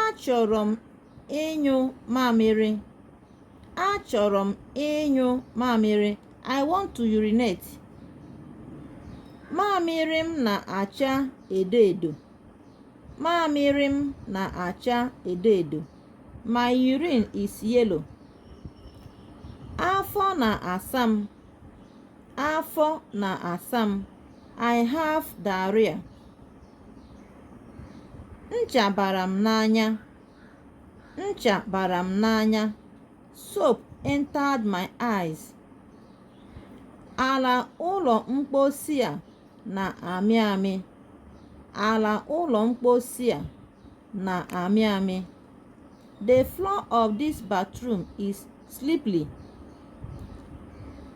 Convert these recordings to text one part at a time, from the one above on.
achọrọ m ịnyụ mamịrị achọrọ m ịnyụ mamịrị i want to urinate mamịrị m na-acha edo edo mamịrị m na-acha edo edo my urine is yellow afọ na-asa m afọ na-asa m i have diarrhea ncha bara m n'anya ncha bara m n'anya soap entered my eyes ala ụlọ mposi a na-amị amị ala ụlọ mposi a na-amị amị. The floor of this bathroom is slippery.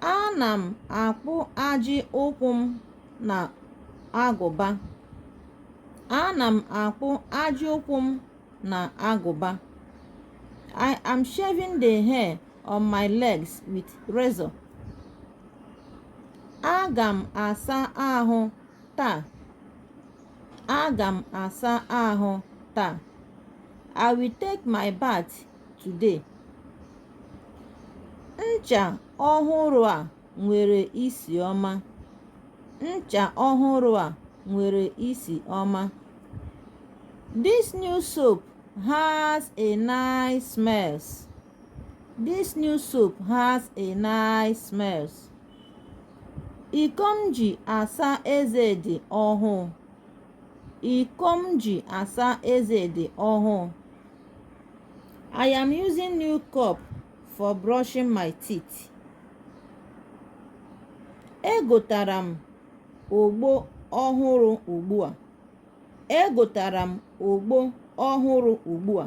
Ana m akpụ ajị ụkwụ m na agụba. Ana m akpụ ajị ụkwụ m na agụba. I am shaving the hair on my legs with razor. Aga m asa ahụ taa. Aga m asa ahụ taa. I will take my bath today. Ncha ọhụrụ a nwere isi ọma. Ncha ọhụrụ a nwere isi ọma. This new soap has a nice smells. Iko m ji asa eze dị ọhụụ. Iko m ji asa eze dị ọhụụ. I am using new cup for brushing my teeth. Egotara m ogbo ọhụrụ ugbu a. Egotara m ogbo ọhụrụ ugbu a.